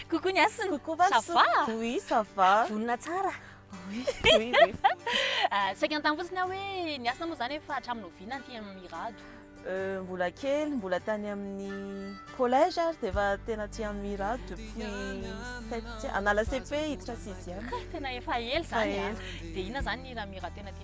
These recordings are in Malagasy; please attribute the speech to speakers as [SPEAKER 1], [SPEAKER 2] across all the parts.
[SPEAKER 1] Coucou ny hasina. Coucou ma ça va?
[SPEAKER 2] Oui,
[SPEAKER 1] ça
[SPEAKER 2] va. Vonona tsara. Oui,
[SPEAKER 1] oui, oui.
[SPEAKER 2] Ah, saika
[SPEAKER 1] an-tany fotsiny aho hoe ny hasina moa zany efa hatramin'ny oviana aty amin'ny Mirado. Euh, mbola
[SPEAKER 2] kely, mbola tany amin'ny collège ary dia efa tena aty amin'ny Mirado depuis sept ans. Anala CP hiditra sixième. Ka tena efa ela
[SPEAKER 1] zany. Dia inona zany ny raha Mirado tena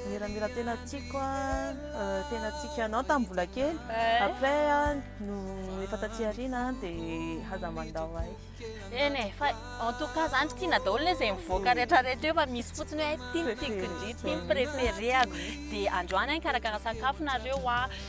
[SPEAKER 1] Miramira tena
[SPEAKER 2] tiako an, euh, tena tiako anao tamin'ny mbola kely. Eh. Après an, no efa taty aoriana dia haza mandao ahy. Eny eh, fa
[SPEAKER 1] en tout cas zany tiana daholo le izay mivoaka rehetrarehetra eo fa misy fotsiny hoe tiako tiako indrindra, tiako préféré-ako. Dia androany an, karakara sakafo nareo an.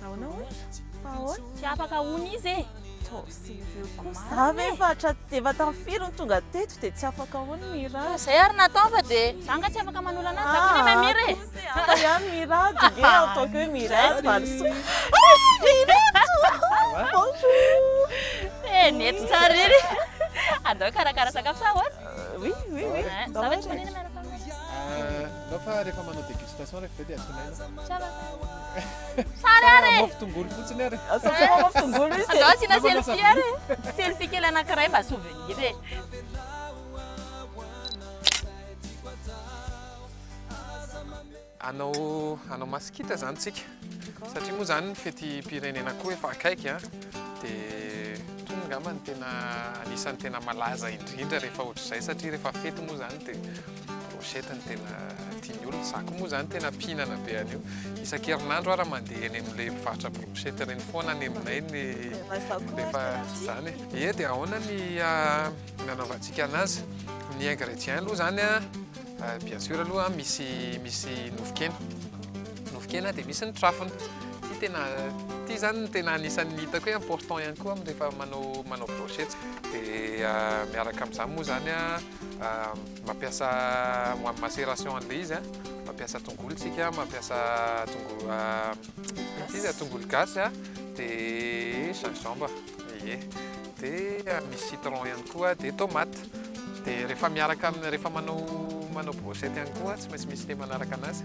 [SPEAKER 1] Nahoana
[SPEAKER 2] hoy? Fa ahoana? Tsy afaka hono
[SPEAKER 1] izy e! Too sérieux kosa.
[SPEAKER 2] Za ve efa hatraty efa tamin'ny firy no tonga teto dia tsy afaka hono Mira? Fa zay ary natao fa
[SPEAKER 1] dia. Za nga tsy afaka manolo ananjy za koa nefa Mira
[SPEAKER 2] e! Hafa ihany Mira dia ve en tant que Mira valisoa. Eh
[SPEAKER 1] nety tsara iry! Andao hikarakara sakafo sa ahoana? Oui oui oui.
[SPEAKER 2] Za ve tsy manina miaraka
[SPEAKER 1] aminao? Ndao fa
[SPEAKER 3] rehefa manao dégustation rehefa dia asina ela. Tsara.
[SPEAKER 1] Tsara ah, re. Mofo tongolo fotsiny ary.
[SPEAKER 3] Ah, Asina ah, mofo tongolo
[SPEAKER 2] izy. Ndao asina selfie
[SPEAKER 1] ary. Selfie kely anankiray mba souvenir e.
[SPEAKER 3] Anao anao masikita zany tsika. Satria moa zany ny fetim-pirenena koa efa akaiky a, de tonga angamba ny tena anisan'ny tena malaza indrindra rehefa ohatr'izay satria rehefa fety moa zany de brochette no tena tian'ny olona, za koa moa zany tena mpihinana be an'io, isan-kerinandro ara mandeha eny amin'le mpivarotra brochette reny foana any aminay ny rehefa zany e. Ie de ahoana ny nanaovantsika anazy, ny ingrédients aloha zany a bien sûr aloha misy nofon-kena. Nofonkena dia misy ny trafony. Ity tena ity izany no tena anisan'ny hitako hoe important ihany koa rehefa manao manao brochette. Dia ah, miaraka amin'izany moa izany ah, mampiasa ho amin'ny macération an'ilay izy, mampiasa tongolo tsika, mampiasa tongolo ah, ity izy tongolo gasy ah, dia gingembre, ie, dia misy citron ihany koa, dia tomate. Dia rehefa miaraka amin'ny rehefa manao manao brochette ihany koa tsy maintsy misy le manaraka anazy.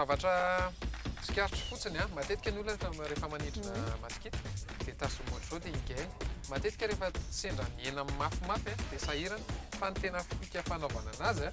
[SPEAKER 3] zavatra tsikaritra fotsiny a matetika ny olona rehefa manidrina mm. masikita dia tasiny ohatr'izao dia higainy matetika rehefa sendra miaina mafimafy a dia sahirana fa ny tena fika fanaovana anazy a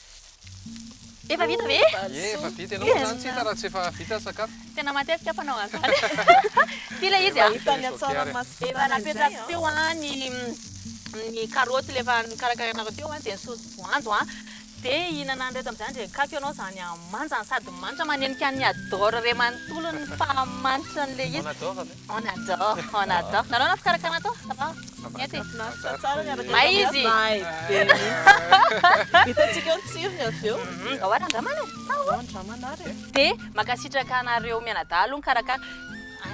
[SPEAKER 1] Efa vita ve? Efa vita. Ianao
[SPEAKER 3] izany tsy hita raha tsy efa vita ny sakafo. Tena matetika mpanao
[SPEAKER 1] an'izany. Ity ilay izy ah. Hita any an-tsaramaso.
[SPEAKER 2] Efa napetrako teo
[SPEAKER 1] ah ny ny karoty ilay efa nikarakarainareo teo ah dia ny saosy voanjo ah. Dia hihinana an'ireto amin'izany dia kaky ianao izany amanjany sady manitra manenika an'i Adore iray manontolo ny faha manitra an'ilay izy. On adore, on adore. Nareo na fikarakarana ato? Ça va? Miette? Mahafinaritra tsara ny araka May izy. May be mihitsy.
[SPEAKER 2] Hitantsika ny tsirony avy eo. Mhm, Ao ary andramana e. Ao
[SPEAKER 1] andramana
[SPEAKER 2] ary e. Dia mankasitraka
[SPEAKER 1] anareo mianadahy aloha nikarakara.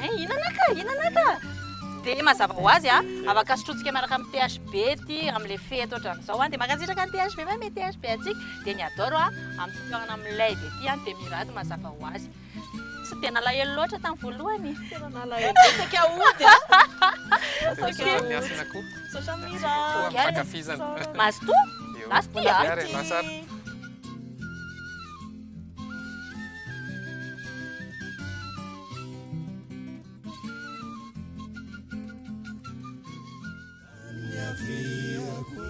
[SPEAKER 1] Ay, hinana ka, hinana ka. Dia mazava ho azy a, afaka sotrointsika miaraka amin'ny THB ity amin'ilay fety ohatran'izao a. Dia mankasitraka ny THB fa me THB antsika. Dia ny Adoro a, amin'ny fitohanana amin'ny Lay be ity a, dia mirary ny mazava ho azy. Tsy dia nalahelo loatra tamin'ny voalohany. Tena nalahelo
[SPEAKER 2] betsaka hody a. Saotra ny
[SPEAKER 3] asina koa. Saotra Mira.
[SPEAKER 2] Koa fankafizana.
[SPEAKER 3] Mazotoa?
[SPEAKER 1] Mazotoa a. Ary Lazara.
[SPEAKER 4] Thank you.